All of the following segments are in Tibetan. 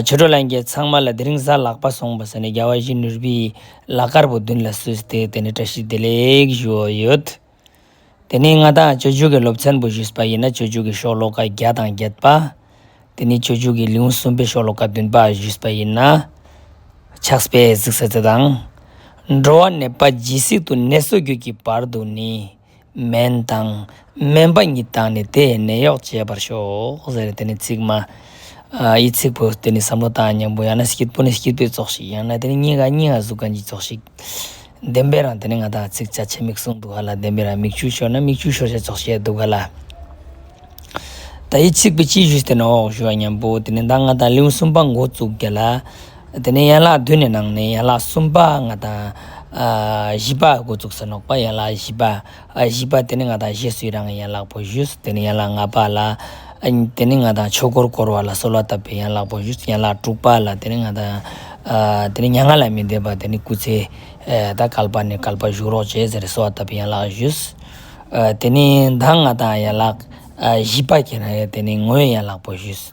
ཆོས་གྲོགས་ལྷན་རྒྱས་ཚང་མ་ལ་དེ་རིང་གཟའ་ལག་པ་སོང་བ་ཟེར་ནས་རྒྱ་བ་བཞི་ནུར་བུའི་ལག་དཀར་པོ་མདུན་ལ་བསུས་ཏེ་དེ་ནས་བཀྲ་ཤིས་བདེ་ལེགས་ཞུ་འོ་ཡོད། དེ་ནི་ང་དང་ཆོས་འབྱུང་གི་སློབ་ཚན་པོ་ཞུས་པ་ཡིན་ན་ཆོས་འབྱུང་གི་ཤོག་ལོ་ཀ་བརྒྱ་དང་བརྒྱད་པ། དེ་ནི་ཆོས་འབྱུང་གི་ལེའུ་གསུམ་པའི་ཤོག་ལོ་ཀ་བདུན་པ་ཞུས་པ་ཡིན་ན། ཕྱགས་པས་གཟིགས་ས་དེ་དང། འགྲོ་བ་ནད་པ་ཇི་སྲིད་དུ་ནད་གསོ་རྒྱུད་ཀྱི་བར་དུ་ནི། སྨན་དང། སྨན་པ་གཉིས་བཏང་ནས་དེས་ནད་གཡོག་བྱེད་པར་ཤོག། ཟེར་ནས་དེ་ནི་ཚིག་སྨྲ། ཡི་ཚིག་པོ་དེ་ནི་བསམ་བློ་དང་སྙིང་པོ་ཡང་ན་སྐྱིད་པོ་ནི་སྐྱིད་པོའི་ཚོགས་ཤིག་ཡང་ན་དེ་ནི་སྙིང་ག་སྙིང་ག་གཟུགས་གང་གི་ཚོགས་ཤིག། བདེན་པའི་རང་དེ་ནི་ང་དང་ཚིག་བྱ་ཆེ་མིག་ཟུང་འདུག་ག་ལ་བདེན་པའི་རང་མིག་ཆུ་ཤོར་ན་མིག་ཆུ་ཤོར་བྱ་ཚོགས་ཤིག་འདུག་ག་ལ། ད་ཡི་ཚིག་པོ་སྤྱི་བཞུགས་དེ་ནི་འོག་བཞུགས་ཡ་སྙམ་པོ་དེ་ནི་ད་ང་དང་གླིང་གསུམ་པ་མགོ་བཙུགས་ག་ལ། དེ་ནས་ཡན་ལག་བདུན་ནི་ནང་ནས་ཡན་ལག་གསུམ་པ་ལྔ་དང། བཞི་པ་སྒོ་བཙུགས་སུ་ནོག་པ་ཡན་ལག་བཞི་པ། བཞི་པ་དེ་ནི་ལྔ་དང་བཞི་སུ་ཡི་རང་གི་ཡན་ལག་པོ་བཞི་སུ་དེ་ནི་ཡན་ལག་ལྔ་པ་ལ། དེ་ནི་ལྔ་དང་ཆོས་འཁོར་བསྐོར་བ་ལ་གསོལ་བ་བཏབ་པའི་ཡན་ལག་པོ་བཞི་སུ་ཡན་ལག་དྲུག་པ་ལ་དེ་ནི་ལྔ་དང། དེ་ནི་མྱ་ངན་ལས་མི་འདས་པ་དེ་ནི་སྐུ་ཚེ། དང་བསྐལ་པ་ནས་བསྐལ་པ་བཞུགས་རོགས་བྱེད་ཟེར་གསོལ་བ་བཏབ་པའི་ཡན་ལག་བཞི། དེ་ནི་མདའ་ལྔ་དང་ཡན་ལག་བཞི་པ་གྱི་རང་ཡན་དེ་ནི་ངོའི་ཡན་ལག་པོ་བཞི།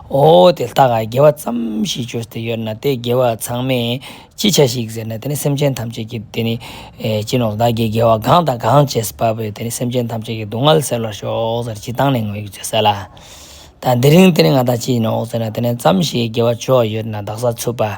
ཨོ་དེ་ལྟ་ག་དགེ་བ་ཙམ་ཞིག་བྱོས་ཏེ་ཡོད་ན་དེ་དགེ་བ་ཚང་མས་ཅི་བྱ་ཞིག་ཟེར་ན་དེ་ནི་སེམས་ཅན་ཐམས་ཅད་ཀྱི་དེ་ནི་སྤྱི་ནོར་བདག་གིས་དགེ་བ་གང་དང་གང་བྱས་པ་བས་དེ་ནི་སེམས་ཅན་ཐམས་ཅད་ཀྱི་སྡུག་བསྔལ་སེལ་བར་ཤོག་ཟེར་ཅི་བཏང་ནས་ངོ་ཡོད་ཅེས་ཟེར་ལ། ད་འདི་རིང་དེ་ནི་ང་དང་ཅི་ཡིན་ནོ་ཟེར་ན་དེ་ནི་ཙམ་ཞིག་དགེ་བ་བྱོས་ཡོད་ན་བདག་ས་ཚུད་པ།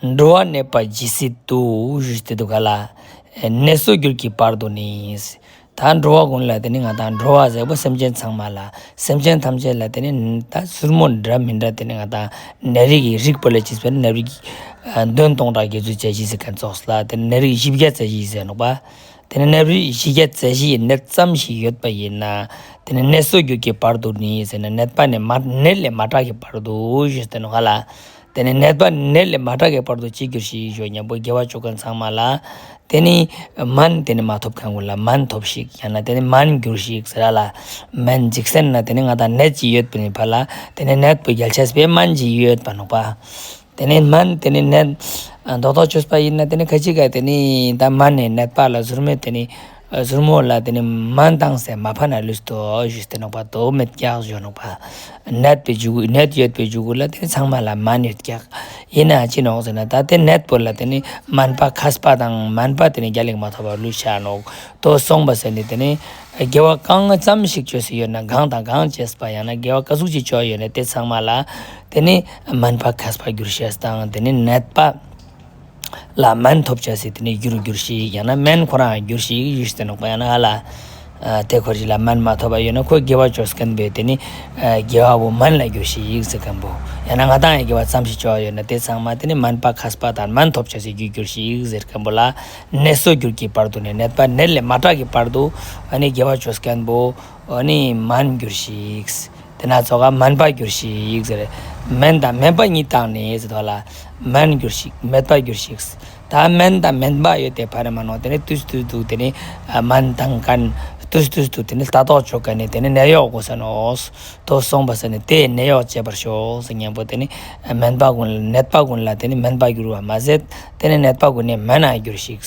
འགྲོ་བ་གནས་པ་ཇི་སྲིད་དུ། ཞེས་དུས་ག་ལ། ནས་གསོད་རྒྱུར་གྱི་བར་དུ་ནི། ད་འགྲོ་བ་ཀུན་ལ་དེ་ནི་ང་དང་འགྲོ་བ་ཟེར་བུ་སེམས་ཅན་ཚང་མ་ལ། སེམས་ཅན་ཐམས་ཅད་ལ་དེ་ནི། ད་སུར་མོ་འདྲ་མི་འདྲ་དེ་ནི་ང་དང། ནད་རིགས་ཡིན་རིགས་པ་ལས་ཇི་སྲིད་ནད་རིགས། བདུན་སྟོང་ཕྲག་བརྒྱད་ཚུན་ཆད་ཇི་སྲིད་གན་ཚོགས་ལ་དེ་ནི་ནད་རིགས་བཞི་བརྒྱ་རྩ་བཞི་ཡིན་ཟེར་ནོག་པ། དེ་ནི་ནད་རིགས་བཞི་བརྒྱ་རྩ་བཞི་ཡི་ནད་ཙམ་ཞིག་ཡོད་པ་ཡིན་ན། དེ་ནི་ནས་གསོད་རྒྱུར་གྱི་བར་དུ་ནི་ཟེར་ན་ནད་པ་ནས་མ། ནད་ལས་མ་དྲག་གི་བར་དུ། ཞེས་དུས་ག་ལ། དེ་ནས་ནད་པ་ནད་ལས་མ་དྲག་གི་བར་དུ་གཅིག་གྱུར་ཞིག་ཞོག་སྙམ་པོ་དགེ་བ་བཅུ་ཀ་ཚང་མ་ལ། དེ་ནི། མན། དེ་ནི་མ་ཐོབ་གང་དགོས་ལ་མན་ཐོབས་ཤིག་ཡང་ན་དེ་ནི་མན་འགྱུར་ཞིག་ཟེར་ར་ལ། མན་འཇིག་སེར་ན་དེ་ནི་ང་དང་ནད་ཅི་ཡོད་པའི་བར་ལ་དེ་ནི་ནད་དུ་རྒྱལ་ཆས་པས་མན་ཅི་ཡོད་པར་ནོག་པ། དེ་ནི་མན་དེ་ནི་ནད། མདོག་མདོག་ཆོས་པ་ཡིན་ན་དེ་ནི་ཁ་ཅིག་ག་དེ་ནི་ད་མན་ནི་ནད་པ་ལ་གཟུར་མོད་དེ་ནི། གཟུར་མོ་ལ་དེ་ནས་མ་འདང་སས་མ་ཕ་ན་ལུས་དོ་ཞུས་སྟེ་ནོག་པ་དོ་མི་རྒྱག་བཞོ་ནོག་པ་ནད་པའི་རྒྱུ་ནད་ཡོད་པའི་རྒྱུ་གུ་ལ་དེ་ནས་ཚང་མ་ལ་མ་ནུས་རྒྱག་ཡིན་ན་ཅི་ནོག་ཟེར་ན་ད་དེ་ནད་པོ་ལ་དེ་ནས་མན་པ་ཁ་སྤ་དང་མན་པ་དེ་ནས་རྒྱ་ལེགས་མ་ཐོག་པ་ལུས་བྱ་ནོག་དོ་གསུངས་པ་ཟེར་ནས་དེ་ནས་དགེ་བ་གང་ཙམ་ཞིག་བཅོས་སུ་ཡོད་ན་གང་དང་གང་བཅས་སྤ་ཡང་ན་དགེ་བ་ག་ཟུག་ཅིག་བཅོས་ཡོད་ན་དེ་ཚང་མ་ལ་དེ་ནས་མན་པ་ཁ་སྤ་རྒྱུར་བྱས་སྟངས་དེ་ནས་ནད་པ། ལ་སྨན་ཐོབ་བྱ་སྲིད་དེ་ནས་རྒྱུ་རུ་འགྱུར་ཞིག་ཡང་ན་སྨན་ཁོ་རང་འགྱུར་ཞིག་ཡུལ་སྲིད་ནག་པོ་ཡང་ན་ཨ་ལ། དེ་འཁོར་ཞིག་ལ་སྨན་མ་ཐོབ་པ་ཡོད་ན་ཁོས་དགེ་བ་སྤྱོད་སྐན་པོས་དེ་ནི། དགེ་བ་བོ་སྨན་ལ་འགྱུར་ཞིག་ཡིག་ཚིག་སྐན་པོ་ཡང་ན་ང་དང་ཡང་དགེ་བ་ཙམ་ཞིག་སྤྱོད་ཡོད་ན་དེ་ཚང་མ་དེ་ནི་སྨན་པ་ཁ་སྤ་དང་སྨན་ཐོབ་བྱ་སའི་རྒྱུ་འགྱུར་ཞིག་ཡིག་ཚིག་སྐན་པོ་ལ། ནད་གསོ་རྒྱུར་གྱི་བར་དུ་ནས་ནད་པ་ནད་ལས་མ་དྲག་གི་བར་དུ། ཨ་ནི་དགེ་བ་སྤྱོད་སྐན་པོ། འོ་ནི་མར་འགྱུར་ཞིག། དེ་ན་ཚོ་ཁ་མར་འབབ་འགྱུར་ཞིག། མན་དང་མན་པ་གཉིས་བཏགས་ནས་ཚོ་ཐོག་ལ་མར་འགྱུར་ཞིག་མལ་པར་འགྱུར་ཞིག། ད་མན་དང་མན་པ་ཡོད་དེ་ཕ་རེ་མ་ནོར་དེ་ནི་ཏུས་ཏུས་འདུག་དེ་ནི་མན་དང་གན་ཏུས་ཏུས་འདུག་དེ་ནི་ལྟ་རྟོག་ཆོ་ག་ནི་དེ་ནི་ནད་གཡོག་དགོས་ས་ནོ། དོ་གསུངས་པ་ས་ནི་དེས་ནད་གཡོག་བྱེད་པར་ཤོག་ཟེར་སྙན་པོ་དེ་ནི་མན་པ་ཀུན་ནད་པ་ཀུན་ལ་དེ་ནི་མན་པ་འགྱུར་བར་མ་ཟད་དེ་ནི་ནད་པ་ཀུན་ནས་མན་ན་འགྱུར་ཞིག།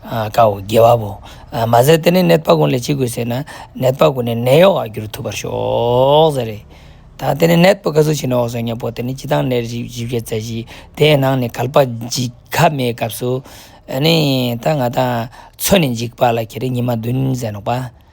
དཀའ་འོ་དགེ་བ་པོ། མ་ཟད་དེ་ནི་ནད་དཔག་ཀུན་ལས་ཅི་དགོས་ཟེར་ན། ནད་དཔག་ཀུན་ནི་ནད་གཡོག་རྒྱུར་ཐུབ་པར་ཤོག་ཟེར་རེད། ད་དེ་ནི་ནད་དཔག་ག་ཚོད་བྱས་ནའོ་ཟེར་སྙམ་པོ་དེ་ནི་སྤྱི་བཏང་ནད་རིགས་བཞི་བརྒྱ་རྩ་བཞི་དེའི་ནང་ནས་གལ་པ་འཇིགས་ཁ་མའི་སྐབས་སུ། ཨ་ནི། ད་ང་ད། ཚོད་ནས་འཇིགས་པ་ལ་ཁྱེད་རིགས་ཉི་མ་བདུན་ཟེར་ནོག་པ།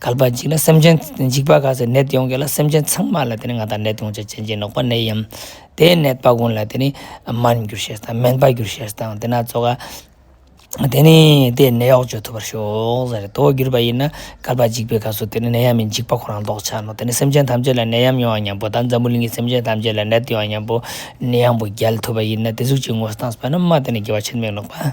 གལ་པ་འཇིག་ལ་སེམས་ཅན་འཇིག་པ་ག་ཚོད་ནད་ཡོང་གི་ལ་སེམས་ཅན་ཚང་མ་ལ་དེ་ནི་ང་དང་ནད་ཡོང་བྱ་ཅན་གྱི་ནོག་པ་ནད་ཡམ། དེའི་ནད་སྤ་གོང་ལ་དེ་ནི་སྨན་འགྱུར་བྱེད་དང་སྨན་སྤ་འགྱུར་བྱེད་དང་དེ་ན་ཚོ་ག། དེ་ནི་དེའི་ནད་གཡོག་བྱོས་ཐུབ་པར་ཤོག་ཟེར་རེད་དོ་གྱུར་པ་ཡིན་ན་གལ་པ་འཇིག་པའི་ག་ཚོད་དེ་ནི་ནད་ཡམ་མི་འཇིག་པ་ཁོ་རང་ལྡོག་ཆ་ནོ་དེ་ནི་སེམས་ཅན་ཐམས་ཅད་ལ་ནད་ཡམ་ཡོང་བ་སྙམ་པོ་དང་འཛམ་བུ་གླིང་གི་སེམས་ཅན་ཐམས་ཅད་ལ་ནད་ཡོང་བ་སྙམ་པོ་ནི་ཡང་པོ་རྒྱལ་ཐུབ་པ་ཡིན་ན་དེ་གཟུགས་ཀྱི་ངོ་སྟངས་སྤ་ན་མ་དེ་ནི་དགེ་བ་ཆེར་མེད་ནོག་པ།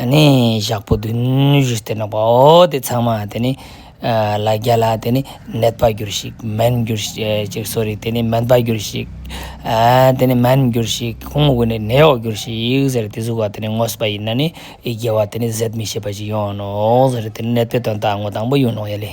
ཨ་ནི་ཞག་པོ་བདུན་བཞི་སྟེ་ནག་པའོ། དེ་ཚང་མ་དེ་ནི། ལ་རྒྱ་ལ་དེ་ནི་ནད་པར་འགྱུར་ཞིག་སྨན་འགྱུར་ཞིག་གསོ་རིག་དེ་ནི་སྨན་པར་འགྱུར་ཞིག། དེ་ནི་སྨན་འགྱུར་ཞིག་ཁུང་བུ་ནི་ནད་གཡོག་འགྱུར་ཞིག་ཟེར་དེ་གཟུགས་བ་དེ་ནི་ངོ་སྤ་ཡིན་ན་ནི་རྒྱལ་བ་དེ་ནི་ཟད་མི་ཤེས་པ་ཅིག་ཡོང་ནོ། ཟེར་དེ་ནི་ནད་པའི་དོན་དང་ངོ་དང་པོ་ཡོད་ནོ་ཡ་ལེ།